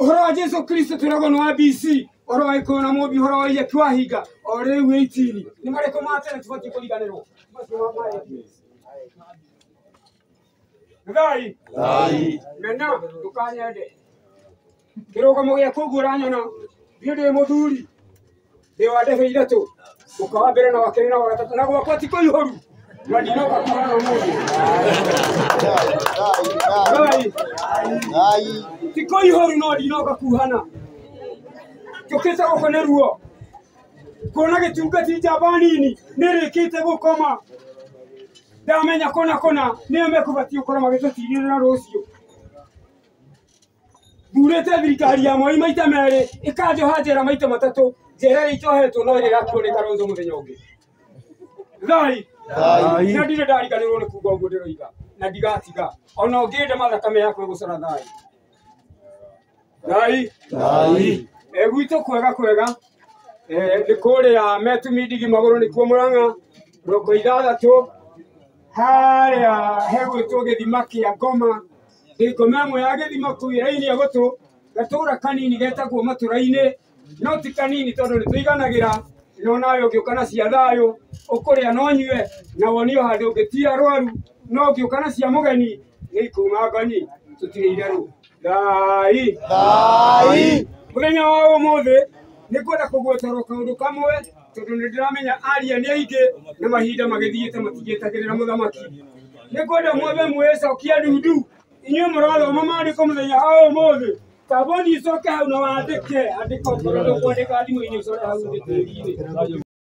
Ũhoro wa Jesu Kristo twĩragwo nĩ wa BC ũhoro wa gĩkũyũ na mũmbi ũhoro wa iria kĩwahinga o rĩu ĩitini nĩ marĩkũ ma tene tũbatiĩ kũriganĩrwo thai mena ndũkanyende kĩrũgamo gĩaku ũguo ũranyona thiĩ ndĩ mũthuri ndĩwandĩhĩire tũ mũka wa mbere na wa kerĩ na wa gatatũ na gwakwa ti kũihũru na ndinoka kuhana ũmũthĩ Ngai, ti kũihũru no ndinoka kuhana njũkĩte gũkũ nĩ ruo kuona gĩtungati njamba nini nĩrĩkĩte gũkoma ndamenya kũna kũna nĩyo mekũbatiĩ gũkorwo magĩtũtirĩrĩra rũciũ ndurĩte thirikari ya mwai maita merĩ ĩkanjoha njera maita matatũ njera ĩrĩa icohetwo no ĩrĩa ĩgakuo nĩ karonzo mũthenya ũngĩ thai Thai. na ndirĩ ndariganĩrwo nĩ kuga ũguo ndĩroiga na ndigatiga ona ũngĩende mathakame yakwa gũcora thai thai Thai. Eh, gwitũ kwega kwega eh, nĩ kũrĩa metumindigi magũrũ nĩkuo mũrang'a mĩrongo ithathatũ harĩa hegwĩtwo gĩthima kĩa ngoma ngoma ĩmwe ya gĩthima kũu ĩraini ya gũtũ gatũra kanini getagwo matũra-inĩ no ti kanini tondũ nĩ tũiganagĩra no nawe ũngĩũka na cia thayũ ũkũrĩa na ũnyue na wonio handũ ũngĩ ti arwaru no ũngĩũka na cia mũgeni nĩ ikuma ngoni tũtirĩ itherũ thai mũthenya wa ũmũthĩ nĩ ngwenda kũgwetera kaũndũ kamwe tondũ nĩ ndĩramenya aria nĩ aingĩ na mahinda magĩthiĩte matingĩtagĩrĩra mũthamaki nĩ kwenda mwambe mwĩcokia ndundu inyuĩ mũrathoma maandĩko mũthenya ha ũmũthĩ tambothi icoke hau na wandĩke andĩka ũkorwo ndũkwandĩka thimũ-inĩ ũcore hau thĩ tĩri-inĩ